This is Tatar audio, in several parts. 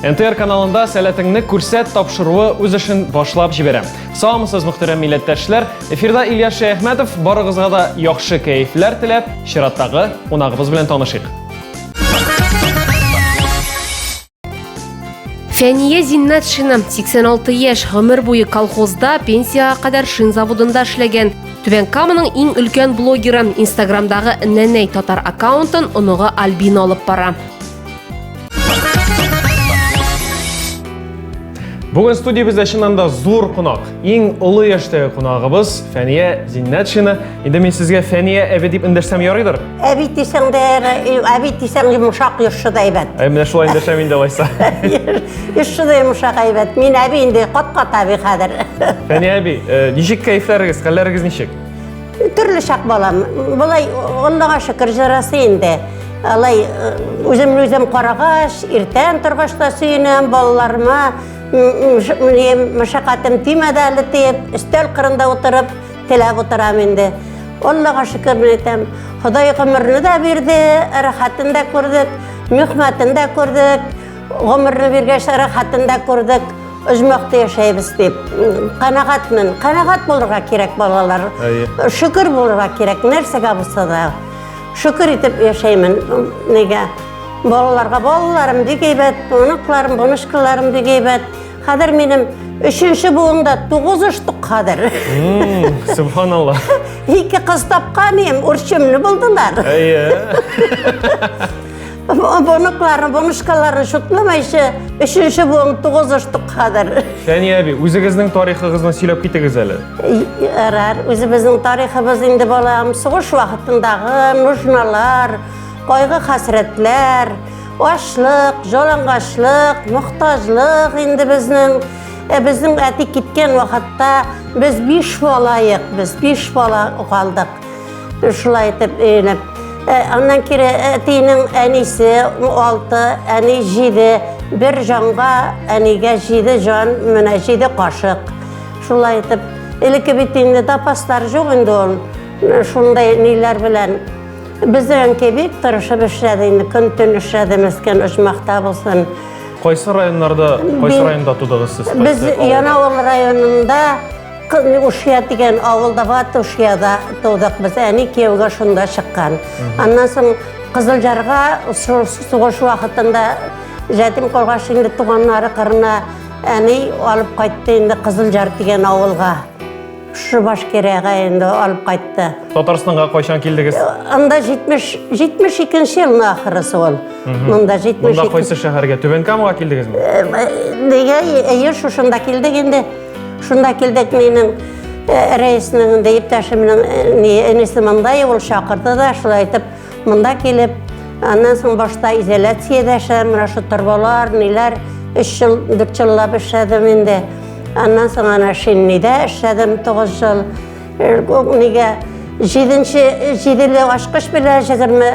НТР каналында сәләтеңне күрсәт тапшыруы үз эшен башлап җибәрә. Саумысыз мөхтәрәм милләттәшләр, эфирда Илья Шәяхмәтов барыгызга да яхшы кәефләр теләп, чираттагы кунагыбыз белән танышыйк. Фәния Зиннатшина 86 яшь гомер буе колхозда пенсияга кадәр шин заводында эшләгән. Түбән Каманың иң өлкән блогеры Инстаграмдагы Нәнәй татар аккаунтын оныгы Альбина алып бара. Бүген студиябездә чыннан да зур кунак. Иң олы яшьтәге кунагыбыз Фәния Зиннәтшина. Инде мин сезгә Фәния әби дип эндәшсәм ярыйдыр. Әби дисәң дә, әби дисәң йомшак йөрше дә әйбәт. Ә менә шулай эндәшәм инде алайса. Йөрше дә йомшак әйбәт. Мин әби инде кат-кат әби хәзер. Фәния әби, э, ничек кәефләрегез, хәлләрегез ничек? Төрле чак балам. Болай Аллага шөкер җырасы инде. Алай үземне үзем карагач, иртән торгач та сөенәм балаларыма. Мәшәкатем тимәде әле дип, өстәл кырында утырып, теләп утырам инде. Аллага шөкер беләм. Ходай гомерне дә бирде, рәхәтен дә күрдек, мөхмәтен дә күрдек. Гомерне биргәч, рәхәтен дә күрдек, оҗмахта яшәйбез дип. Канәгатьмен. Канәгать булырга кирәк балалар. Әйе. Шөкер булырга кирәк нәрсәгә булса да. Шөкер итеп яшәймен. Нигә? Балаларга балаларым бик әйбәт, оныкларым, бунышкаларым бик әйбәт. Хәзер минем өченче буында тугыз оштык хәзер. Субханалла. Ике кыз тапканым, үрчемне булдылар. Әйе. Бонукларны, бонушкаларны шутламайчы, өченче буын тугыз оштык хәзер. Сәния әби, үзегезнең тарихыгызны сөйләп китегез әле. Ярар, үзебезнең тарихыбыз инде балам, сугыш вакытындагы нужналар, кайгы хәсрәтләр, ашлык, жалангачлык, мохтаҗлык инде безнең Ә безнең әти киткән вакытта без биш балаек, без биш бала калдык. Шулай итеп өйләнеп. Э, аннан кире әтинең э, әнисе 6, әни 7. Бер җанга әнигә 7 җан, менә 7 кашык. Шулай итеп, элекке бит инде запастар юк инде ул. Э, шундай ниләр белән Безнең кебек тырышып эшләде инде, көн төн эшләде мескен оҗмахта булсын. Кайсы районнарда, кайсы районда тудыгыз сез? Без Янаул районында Кызны Ушия дигән авылда Ваты Ушияда тудык без. Әни кияүгә шунда чыккан. Аннан соң Кызылжарга сугыш вакытында Жәтим Коргаш инде туганнары кырына әни алып кайтты инде Кызылжар дигән авылга. Шу башкирәгә инде алып кайтты. Татарстанга кайчан килдегез? Анда 70 72нче елның ахырысы ул. Монда 72. Монда кайсы шәһәргә? Түбән Камага килдегезме? Нигә? Әйе, шушында килдек инде. Шунда килдек минем э, рәисның инде иптәшемнең э, ни энесе монда ул чакырды да шулай итеп монда килеп аннан соң башта изоляциядә эшләдем менә шу торбалар ниләр өч жыл дүрт жыллап эшләдем инде аннан соң ана шиннидә эшләдем тугыз жыл э, нигә җиденче җиделе ачкыч белән җигерме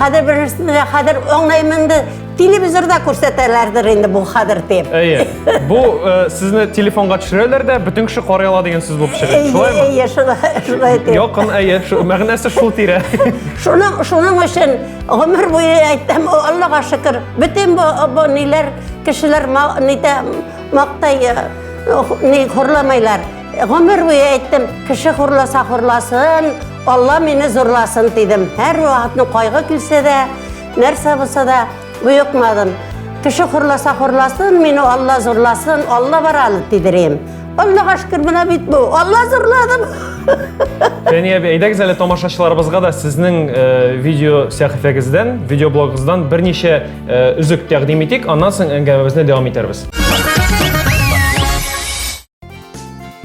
Хәзер берәрсен дә хәзер аңлаймын инде. Телевизорда күрсәтәләрдер инде бу хәзер дип. Әйе. Бу э, сезне телефонга төшерәләр дә, бөтен кеше карый ала дигән сүз булып чыга. Шулаймы? Әйе, шулай, шулай дип. Якын, әйе, шу- мәгънәсе шул тирә. Шуның, шуның өчен гомер буе әйтәм, о, Аллага шөкер, бөтен бу, бу ниләр, кешеләр ма, нитә, мактый, э, ни, хурламайлар. Гомер буе әйттем, кеше хурласа хурласын, Алла мине зурласын дидем. Һәр вакытны кайгы килсә дә, нәрсә булса да буйыкмадым. Кеше хурласа хурласын, мине Алла зурласын, Алла бар аны дидерем. Аллага шөкер, менә бит бу. Алла зурладым. Фәния әби, әйдәгез әле тамашачыларыбызга да сезнең э, видео сәхифәгездән, видеоблогыгыздан берничә э, үзек тәкъдим итик, аннан соң әңгәмәбезне дәвам итәрбез.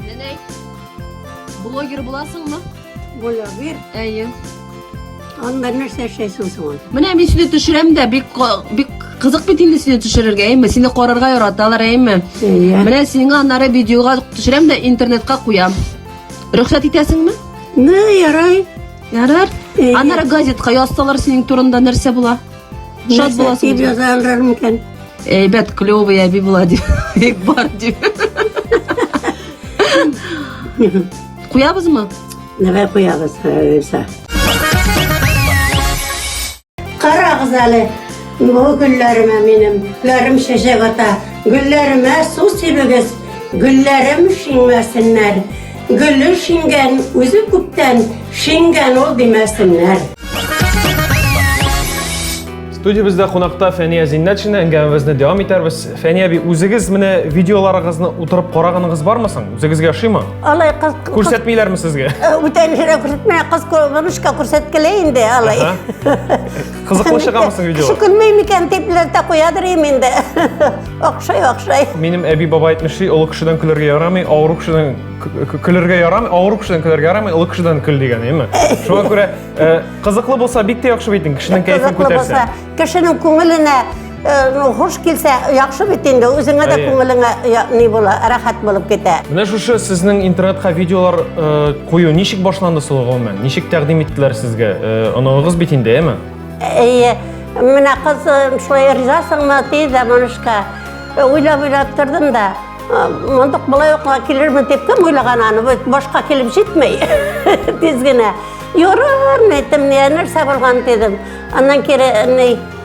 Нәнәй, блогер буласыңмы? Блогер? Әйе. Анда нәрсә эшләйсең соң? Менә мин сине төшерәм дә, бик бик кызык бит инде сине төшерергә, әйме? Сине карарга яраталар, әйме? Әйе. Менә сиңа аннары видеога төшерәм дә интернетка куям. Рөхсәт итәсеңме? Ну, ярай. Ярар. Аннары газетка язсалар синең турында нәрсә була? Шат буласың. Дип язалар микән? Әйбәт, клёвый әби була дип. Бик бар дип. Куябызмы? Нәбә куябыз, Рәйсә. Карагыз әле, бу гөлләремә минем, гөлләрем шешек ата, гөлләремә су сибегез, гөлләрем шиңмәсеннәр, Гөле шиңгән, үзе күптән шиңгән ул димәсеннәр. Студиябездә кунакта Фәния Зиннәтшина әңгәмәбезне дәвам итәрбез. Фәния би, үзегез менә видеоларыгызны утырып караганыгыз бармы соң? Үзегезгә ошыймы? Алай кыз күрсәтмиләрме сезгә? Бүтәнләргә күрсәтмә, кыз бабушка күрсәткәле инде алай. Кызыклы чыгамы соң видео? Кеше көлмей микән дип ләтә куядыр инде. Охшай, охшай. Минем әби баба әйтмешли, олы кешедән көлергә ярамый, авыру кешедән көлергә ярамый, авыру кешедән көлергә ярамый, олы кешедән көл дигән, яме? Шуңа күрә э, кызыклы булса бик тә яхшы бит инде, кешенең кәефен күтәрсә. Кешенең күңеленә Хуш килсә, яхшы бит инде, үзеңә дә күңелеңә ни була, рәхәт булып китә. Менә шушы сезнең интернетка видеолар кую ничек башланды сул гомумән? Ничек тәкъдим иттеләр сезгә? Оныгыгыз бит инде, әме? Әйе. Менә кыз шулай ризасыңмы ди дә монышка. Уйлап-уйлап тордым да. Мондык былай ук килермен дип кем уйлаган аны? Башка килеп җитмәй. Тиз генә. Юрар, әйтем, нәрсә булган дидем. Аннан кире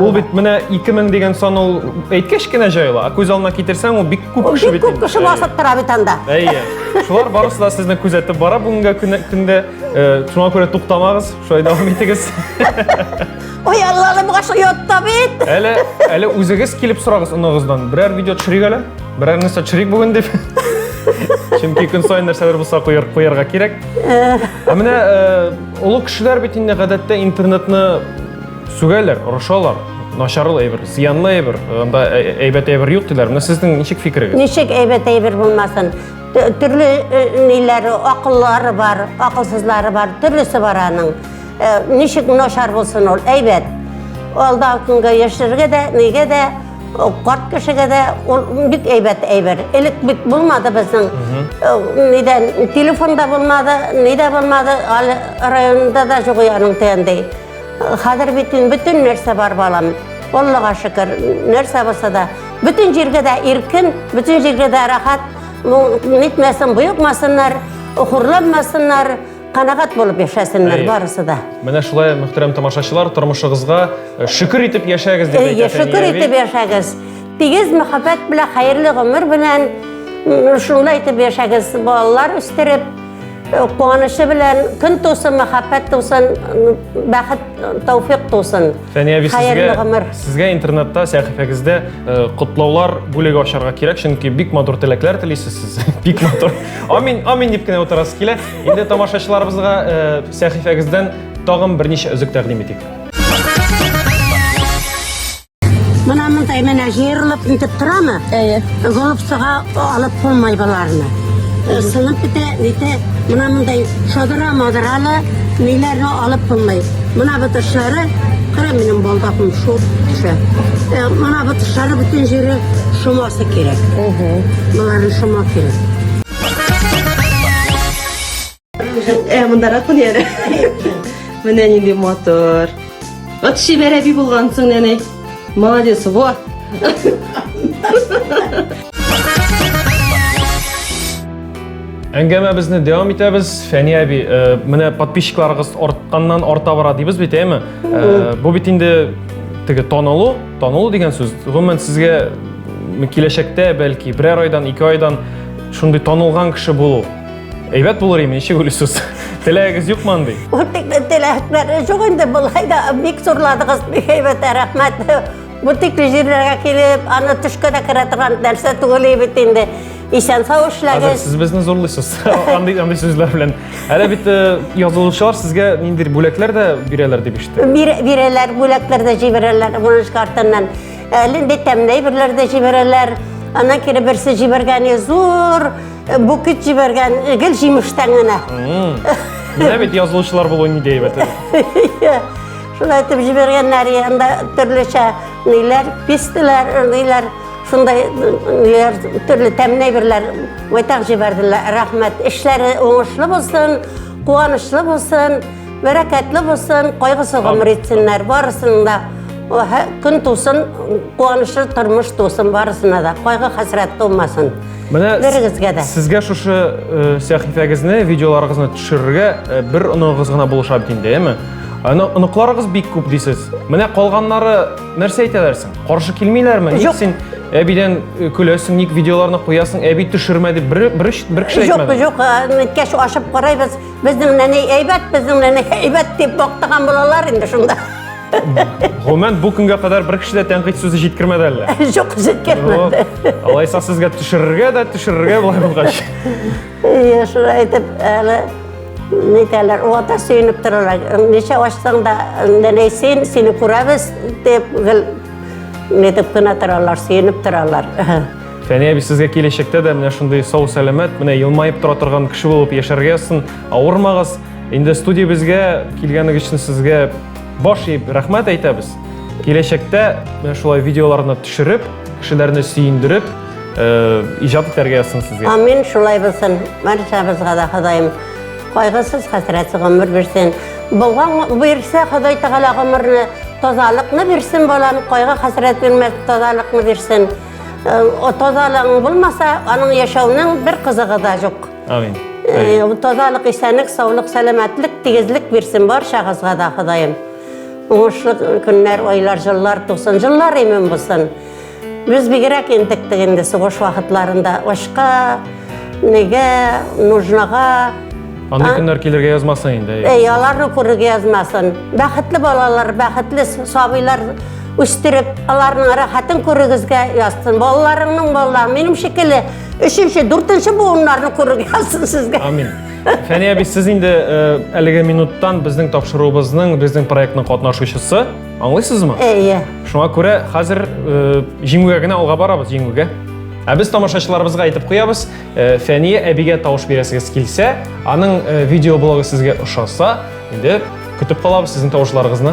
Ул бит менә 2000 дигән сан ул әйткәч кенә җайла, ә күз алдына китерсәң ул бик күп кеше бит. Бик күп кеше басып тора бит анда. Әйе. Шулар барысы да сезне күзәтеп бара бүгенге көндә. Шуңа күрә туктамагыз, шулай дәвам итегез. Ой, Аллалым, гашык ятта бит. Әле, әле үзегез килеп сорагыз оныгыздан. Берәр видео төшерик әле. Берәр нәрсә төшерик бүген дип. Чөнки көн саен нәрсәләр булса куярга кирәк. Ә менә Олы кешеләр бит инде гадәттә интернетны сүгәләр, орышалар. Начарлы әйбер, зыянлы әйбер, анда әйбәт әйбер юк диләр. Менә сезнең ничек фикерегез? Ничек әйбәт әйбер булмасын? Төрле ниләре, акыллары бар, акылсызлары бар, төрлесе бар аның. Ничек начар булсын ул? Әйбәт. Алда көнгә яшәргә дә, нигә дә Карт кешегә дә ул бик әйбәт әйбер. Элек бит булмады безнең. Нидә телефонда булмады, нидә булмады, әле районда да жоқ яның тәндәй. Хәзер бит бөтен нәрсә бар балам. Аллага шөкер, нәрсә булса да, бөтен җиргә дә иркен, бөтен җиргә дә рәхәт. Нитмәсен, боекмасыннар, хурланмасыннар. Канагат булып яшәсеннәр барысы да. Менә шулай, мөхтәрәм тамашачылар, тормышыгызга э, шөкер итеп яшәгез дип әйтә. Шөкер итеп яшәгез. Тигез мәхәббәт белән, хәерле гомер белән шулай итеп яшәгез. Балалар үстереп, э, куанышы белән көн тусын, мәхәббәт тусын, бәхет, тәүфик тусын. Фәния би, сезгә, сезгә интернетта, сәхифәгездә э, котлаулар бүлеге ачарга кирәк, чөнки бик матур теләкләр телисез сез. Бик матур. Амин, амин дип кенә утырасы килә. Инде тамашачыларыбызга э, сәхифәгездән тагын берничә өзек тәкъдим итик. Менә мондай менә җыерылып нитеп торамы? Әйе. Голубцага алып булмай боларны. Э, Сынып бетә, нитә, менә мондай шодыра модыраны ниләрне алып булмай. Менә бу тышлары, кара минем балдакым шул төшә. Э, Менә бу тышлары бөтен җире шома кирәк. Ого. Моңарны шома кирәк. Э, монда ракун яре. Менә нинди мотор. Вот шибәр әби булгансың, нәнәй. Молодец, во. Әңгәмәбезне дәвам итәбез. Фәни әби, э, менә подписчикларыгыз артканнан арта бара дибез бит, әйме? Э, бу бит инде теге танылу Танылу дигән сүз, гомумән сезгә киләчәктә бәлки берәр айдан, ике айдан шундый танылган кеше булу әйбәт булыр име, ничек уйлыйсыз? Теләгегез юкмы андый? Ул тикле теләкләре юк инде, болай да бик зурладыгыз, бик әйбәт, рәхмәт. Бу тикле җирләргә килеп, аны төшкә дә керә торган нәрсә түгел бит инде. Исән сау эшләгез. Сез безне зурлыйсыз. Андый андый сүзләр белән. Әле бит э, язылучылар сезгә ниндидер бүләкләр дә бирәләр дип ишеттем. Бирәләр, бүләкләр дә җибәрәләр Воронеж картыннан. Әле инде тәмле әйберләр дә җибәрәләр. Аннан кире берсе җибәргәне зур э, букет җибәргән э, гел җимештән генә. Менә бит язылучылар булу ни әйбәт. Шулай итеп җибәргәннәр, анда төрлечә ниләр, пистеләр, ниләр Шундай ниләр, төрле тәмле әйберләр майтак җибәрделәр. Рәхмәт. Эшләре уңышлы булсын, куанычлы булсын, бәрәкәтле булсын, кайгысы гомер итсеннәр барысын да. Көн тусын, куанычлы тормыш тусын барысына да. Кайгы хәсрәт тумасын. Менә берегезгә дә. Сезгә шушы э, сәхифәгезне, видеоларыгызны төшерергә э, бер оныгыз гына булыша бит инде, яме? Оныкларыгыз бик күп дисез. Менә калганнары Нәрсә әйтәләр соң? Каршы килмиләрме? Ник син әбидән э, көләсең, ник видеоларны куясың, әби төшермә дип бер бер бер кеше әйтмәде. Юк, юк, әткәш ашып карайбыз. Безнең нәни әйбәт, безнең нәни әйбәт дип бактыган булалар инде шунда. Гомумән бу көнгә кадәр бер кеше дә тәнкыйть сүзе җиткермәде әллә? Юк, җиткермәде. Алайса сезгә төшерергә дә, төшерергә болай булгач. Әйе, шулай итеп, әле нитәләр, вата сөенеп торалар. Ничә ачсаң да, нәләй син, сине күрәбез, дип, гел нитеп кенә торалар, сөенеп торалар. Фәния әби сезгә киләчәктә дә менә шундый сау сәламәт, менә елмаеп тора торган кеше булып яшәргә язсын. Авырмагыз. Инде студиябезгә килгәнегез өчен сезгә Баш иеп рәхмәт әйтәбез. Киләчәктә менә шулай видеоларны төшереп, кешеләрне сөендереп, э, иҗат итәргә язсын сезгә. Амин, шулай булсын. Баршабызга да Ходаем кайгысыз, хәсрәтсез гомер бирсен. Булган бирсә Ходай Тәгалә гомерне, тазалыкны бирсен балам, кайгы хәсрәт бирмәс, тазалыкны бирсен. Э, Тазалыгың булмаса, аның яшәүнең бер кызыгы да юк. Амин. Э, Тазалык, исәнлек, саулык, сәламәтлек, тигезлек бирсен баршагызга да Ходаем. Уңышлы көннәр, айлар, җыллар тусын, җыллар имин булсын. Без бигрәк интектек инде сугыш вакытларында ашка, неге, нужнага, Андый көннәр килергә язмасын инде. Әй, аларны күрергә язмасын. Бәхетле балалар, бәхетле сабыйлар үстереп, аларның рәхәтен күрегезгә язсын. Балаларыңның балалары минем шикелле Өченче, дүртенче буыннарны күрергә язсын сезгә. Амин. Фәния әби, сез инде э, әлеге минуттан безнең тапшыруыбызның, безнең проектның катнашучысы. Аңлыйсызмы? Әйе. Шуңа күрә хәзер э, җиңүгә генә алга барабыз, җиңүгә. Ә без тамашачыларыбызга әйтеп куябыз, э, Фәния әбигә тавыш бирәсегез килсә, аның э, видеоблогы сезгә ошаса, инде көтеп калабыз сезнең тавышларыгызны.